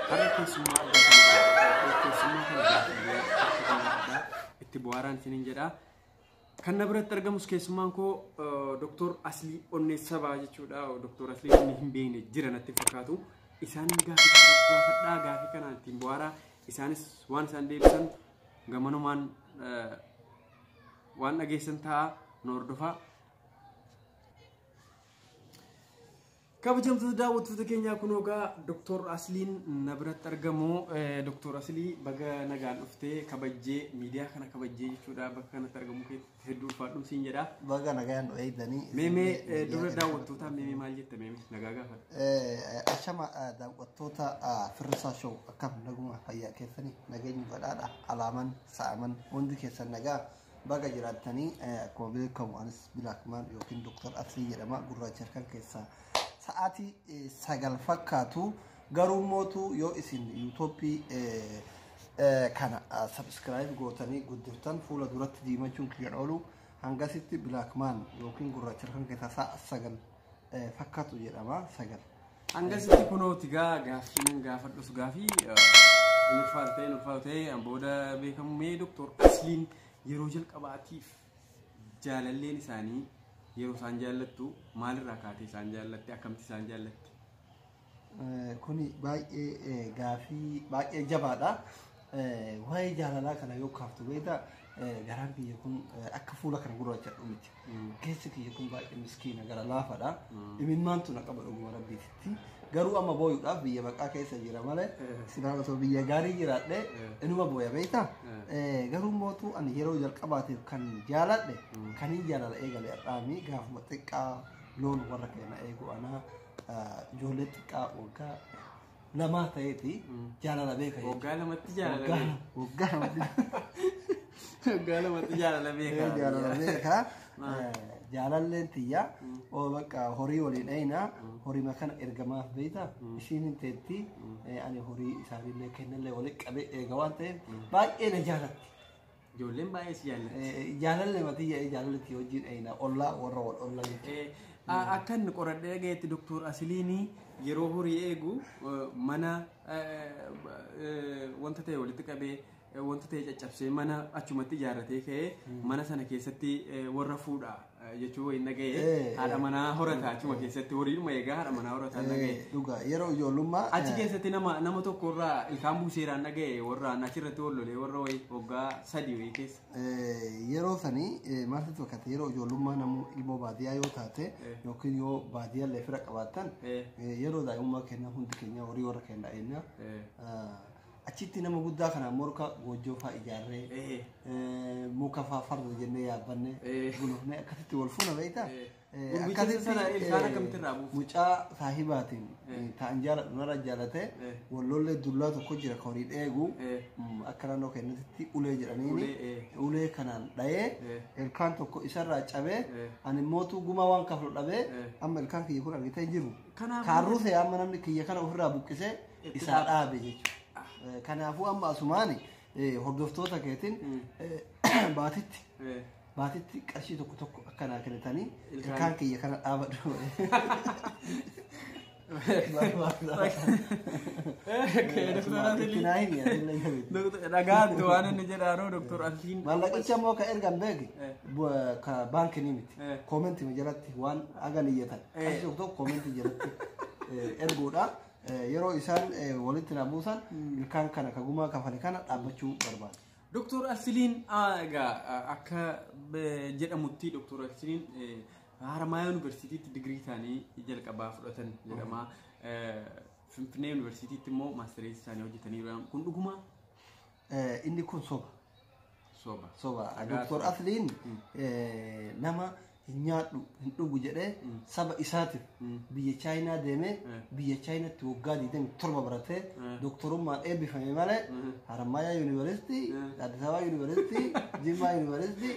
Har'a keessummaa addaa kan jedhamu keessummaa kana gaafannee akka kan addaa itti bu'aaraan isiniin jedha. Kan na biratti argamus keessummaan koo Dooktor Aslii Onneessaa ba'a jechuudha. Dooktor Aslii inni hin beekne jira natti hin fakkaatu. Isaan gaafii gaafadhaa gaafii kana ittiin bu'aaraa isaanis waan isaan deebisan gamanumaan waan dhageessan ta'a nu hordofaa. Kabajamtoota daawwattoota keenyaa kunoo egaa Doktor Asliin na biratti argamu. Doktor Aslii baga nagaan dhufte kabajjee miidiyaa kana kabajjee jechuudha bakka kanatti argamu keetti hedduu ulfaadhu siin jedha. Baga nagaan nu eegdanii. Meemee dura daawwattootaa meemee maal jette meemee nagaa gaafadha. Ashama daawwattoota firrisaa show akkam naguma fayyaa keessanii nageenyi badhaadha alaaman sa'aman hundi keessan nagaa. Baga jiraattanii akkuma beekamu anis Bilaakmaan yookiin Dooktar Asrii jedhama gurraacha halkan keessaa sa'aatii sagal fakkaatu garuu mootu yoo isin yuutoppii kana sabiskiraayib gootanii guddiftan fuula duratti diimachuun kiyyan oolu hangasitti Bilaakmaan yookiin gurraacha halkan keessaa sa'a sagal fakkaatu jedhama sagal. Hangasitti kunoo tigaa gaaffii nan gaafadhus gaafii hin ulfaatu ta'e hin ulfaatu ta'e an booda beekamu mee doktor asliin yeroo jalqabaatiif jaalalleen isaanii yeroo isaan jaallattu maalirraa kaatee isaan jaallatte akkamitti isaan jaallatte? Kuni baay'ee gaafii baay'ee jabaadha. Waa'ee jaalalaa kana yoo kaaftu beektaa garaan kiyya kun akka fuula kana gurraachadhu miti. Keessi kiyya kun baay'ee miskiina gara laafadha. Imimmaan tun akka badhuguma rabbiititti. Garuu amma booyuudhaaf biyya baqaa keessa jira malee silaa osoo biyya gaarii jiraadhe inuma booya beektaa. Garuu mootu ani yeroo jalqabaatiif kan jaaladhe kan hin jaalala eegale har'aami gaafuma xiqqaa loon warra keenya eegu anaa ijoollee xiqqaa waggaa lamaa ta'eeti jaalala beeka jechuudha. Waggaa lamatti jaalala Waggaa beeka. lama- waggaa lamatti Waggaa lamatti jaalala beeka. Ee, jaalala beeka. Ee, Jaalalleen tiyya oo bakka horii waliin dheeyna horii makana ergamaaf beeyta ishiin hin teetti ee, ani horii isaanillee kennallee waliin qabee eega waan ta'eef baay'ee na jaalatti. Ijoolleen baay'ee si jaallatti. Jaalalli matiyya jaalalli kee wajjin eeyna ollaa warra wal olla jechuudha. Eh, a- Akka inni qoradhee dhageetti Dr. Asiliinii yeroo horii eegu eh, mana eh, eh, wanta ta'e walitti qabee eh, wanta ta'e caccabsee mana achumatti ijaarratee ka'ee mana sana keessatti eh, warra fuudhaa. jechuu wayiin dhaga'e Eh, haadha manaa horata achuma keessatti horiidhuma egaa haadha manaa horataan dhaga'e. Eh, Dhugaa yeroo ijoollummaa. Achi eh, keessatti nama nama tokko irraa ilkaan buuseeraan dhaga'e warraan achirratti wal lolee warra wayii waggaa sadii wayii keessa. Eh, yeroo sanii eh, maaltu tokkate yeroo ijoollummaa namuu ilmoo baadiyyaa yoo taate Eh. yookiin yoo baadiyyaa illee fira qabaattan Eh. eh, yeroo daa'imummaa keenya hundi keenya horii warra keenya dha'innaa Eh. Achitti nama guddaa kana morka goojjoo faa ijaarree Ee. eh, muka faa farda jennee yaabbanne Ee. gulufnee akkasitti wal fuuna beektaa? Ee. Eh, Gurbicha akkasitti, sana ilkaan eh, akkamitti irraa buufte? Mucaa saahibaatiin Ee. eh, ta'an jaaladhu narra jaalatee Ee. wallollee dullaa tokko jira kan horii dheegu Ee. mm, akka naannoo keenyatti ulee jedhaniini Ulee, ee. ulee kanaan dhayee Ee. ilkaan tokko isarraa cabee Ee. ani mootuu gumaa waan kaflu dhabee Ee. amma ilkaan kiyya kun argitee hin jiru. Kanaaf- Kaarruu ta'e amma namni kiyya kana ofirraa buqqisee isaa dhaabe jechuudha. Kanaafuu amma asumaani hordoftoota keetiin baatitti baatitti qarshii tokko tokko akka naa kennitanii ilkaan kiyya kana dhaabadhu. Dhagaatti waan inni jedhaanuu doktor Alfiin. Maallaqicha immoo ka ergan beeki ka baankii ni miti. Koomentii jalatti waan agan iyyatan. Qarshii tokko koomentii jalatti erguudha. Yeroo isaan walitti na buusan ilkaan kana ka gumaa kafale kana dhaabbachuu barbaada. Doktor Arsiliin egaa akka jedhamutti Doktor Arsiliin Haramaayaa Yuunivarsiitiitti digirii isaanii jalqabaa fudhatan jedhama. Finfinnee Yuunivarsiitiitti immoo maastereessi isaanii hojjetaniiru. Kun dhugumaa? Eh, Inni kun soba. Soba. Soba. Dhugaa Doktor soba. Asliin eh, nama hin nyaadhu hin dhugu jedhee saba isaatiif biyya Chaayinaa deemee Eh. biyya Chaayinaatti waggaa 27 baratee Eh. doktorummaan eebbifame malee Harammayaa Yuunivarsiitii, Eh. Addis Ababa Yuunivarsiitii, Jimmaa Yuunivarsiitii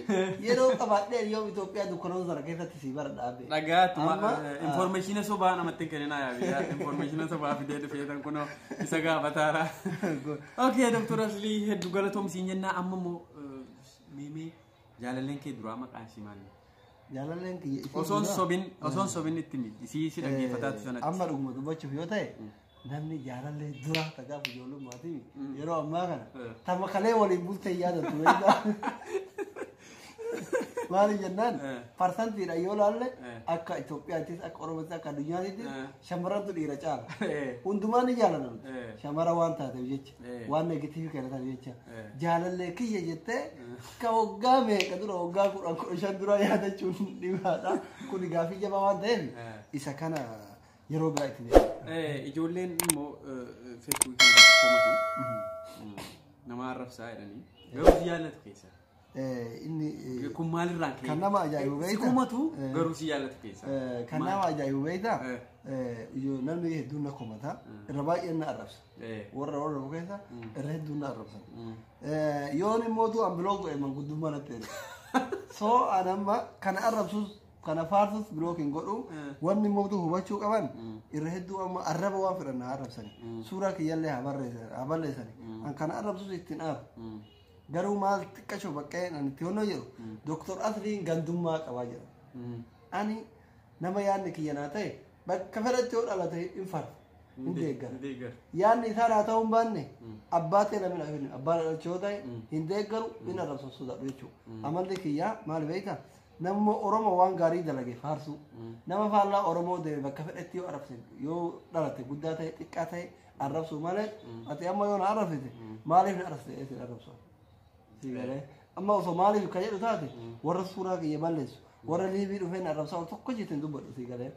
yeroo qabaadhee yoom Itoophiyaa dukkanoota sana keessatti sii bara dhaabee. Dhagaatu Amma, ah, informeeshina sobaa namatti hin kenninaa yaa biyya informeeshina sobaa fidee dhufee tan kunoo isa gaafataara. Okay, Dr. Ashley hedduu galatoom siin jennaa amma immoo eh, meemee jaalalleen kee duraa maqaan ishii maali? Jaalalleen kiyya isii Osoon duraa- sobin osoon sobin itti miti isii ishii dhaggeeffataatti Eh, sanatti. Amma dhuguma dubbachuuf yoo ta'e namni jaalallee duraa tagaa ijoollummaatii yeroo ammaa kana Eh. tamakalee waliin bultee yaadatu. Maali jennaan Eh. parsantiidha yoo laalle Eh. akka Itoophiyaattis akka Oromoottis akka addunyaattis Eh. shamarrantu dhiira caala. Eh. Hundumaa ni jaalatan. Eh. Shamara waan taateef jecha Eh. waan negatiivii kana taateef jecha Eh. jaalallee kiyya jettee ka waggaa meeqa dura waggaa kudhan kudha shan dura yaadachuun dhibaadha. Kun gaafii jabaa waan ta'eef Eh. isa kana yeroo biraa itti deema. Eh, ijoolleen immoo feesbuukii komatu namaa arrabsaa jedhanii garuu si jaallatu keessaa. Eh, Inni eh, Kun maalirraan ka'e? Kan nama ajaa'ibu beektaa? Sikumatu Eh. garuu si jaallata keessa. eh, kan Maal? nama ajaa'ibu beektaa? Eh. Eh, ijo- Namni hedduun na komata. Irra baay'een na arrabsa. Eh. Warra warra dhufu keessa irra hedduun na arrabsan. Eh, Yoon immoo tu ambiloo godhe manguddummaa natti erga. So an amma kana arrabsus kana faarsus bilook hin godhu. Eh. Wanni immoo tu hubachuu qaban irra hedduu amma arraba waan fedhan na arrabsani. Suuraa kiyyallee haa barreessani. Haa balleessani. An kana arrabsus ittiin aaru. Garuu maal xiqqashoo baqqeen ani itti honnoo jedhu Dooktor Asliin gandummaa qabaa jedha. Ani nama yaadni kiyya naa ta'e bakka fedhatti yoo dhalate hin farfa. Hin deeggara. Hin deeggara. Yaadni isaa naa ta'uu hin baanne abbaa ta'e namni dhaaf hin abbaa dhalachuu yoo ta'e hin deeggaru hin arrabsan sodaadhu jechuudha. Amalli kiyyaa maal beekta? Namni Oromoo waan gaarii dalage faarsuu. Nama faallaa Oromoo deeme bakka fedhatti yoo arrabse yoo dhalate guddaa ta'e xiqqaa ta'e arrabsuu malee ati amma yoo na arrabsite maaliif na arrabsite jedhee sin arrabsu sii galee amma osoo maaliif ka jedhu taate warra suuraa kiyya balleessu warra liivii dhufee na arrabsaa tokko jettee hin dubbadhu sii galee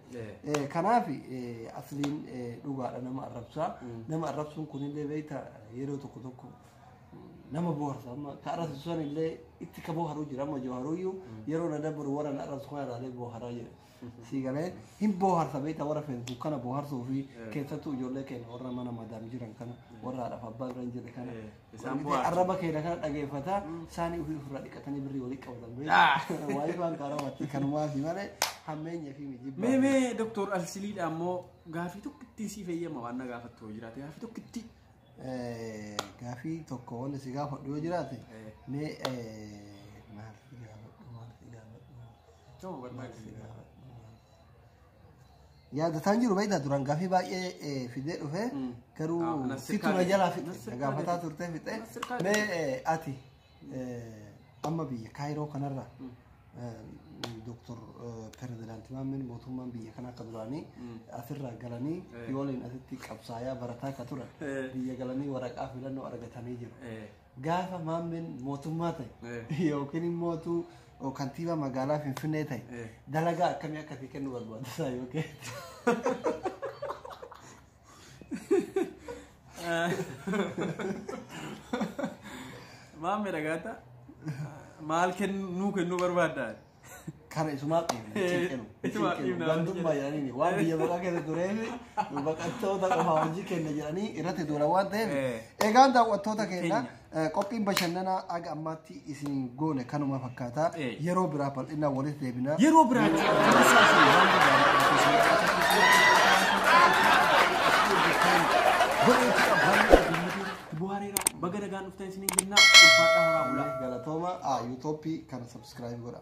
Eh, kanaaf eh, asliin eh, dhugaadha nama arrabsaa nama arrabsuun kunillee beekta yeroo tokko tokko nama boharsa amma ka arrabsisu sanillee itti ka boharuu jira amma jawaaruyyuu yeroo na dabbaru warra na arrabsu kana ilaalee boharaa jira sii galee hin booharsa beektaa warra feesbuuk kana booharsuu fi keessattuu ijoollee keenya warra mana madaam jiran kana warra haadhaaf abbaa bira hin jirre kana Eh, isaan Argitee booharsu. arraba keenya kana dhageeffata isaanii ofii ofirraa dhiqatanii birrii walii qabatan beektaa waayee waan karamatti kanumaati malee hammeenya fi mijibba Mee mee doktor Alsiliidha ammoo gaafii tokko ittiin siif eeyyama waan na gaafattu yoo jiraate gaafii tokko ittiin. gaafii tokko wanni si gaafadhu yoo jiraate mee maal si gaafadhu maal si gaafadhu Yaadataan jiru baay'ee duraan gaafii baay'ee fidee dhufe garuu Ah, Nasir situ na Kaadir. jalaa fixe Nasir na gaafataa Kaadir. turtee fixe Nasir Kaadir. mee eh, ati eh, amma biyya kaayiroo kanarra doktor pirezidaanti Maammin mootummaan biyya kana akka duraanii asirraa galanii Eh. yooliin asitti qabsaayaa barataa akka turan Eh. biyya galanii waraqaa filannoo argatanii jiru. Eh. Gaafa maammeen mootummaa ta'e Eh. yookiin immoo utuu kantiibaa magaalaa Finfinnee ta'e Eh. dalagaa akkamii akka itti kennu barbaada isaa yookiin. Maammee dhagaata maal kennuu kennuu barbaaddaa? Kana isumaa dhiibna. Ituma dhiibna. Gandummaa jedhanii waan biyya baqaa keessa tureef baqattoota qofaa hojii kenna jedhanii irratti duula waan ta'eef. Eh. Egaan daawwattoota keenya eh, qophiin bashannanaa aga ammaatti isin goone kanuma fakkaata. Eh. Yeroo biraa bal'inaan walitti deebina. Yeroo biraa Buhaareera baga nagaan dhuftan isiniin jennaa ulfaadhaa horaa bulaa. Galatooma yuutoopii kana sabskiraayib godha.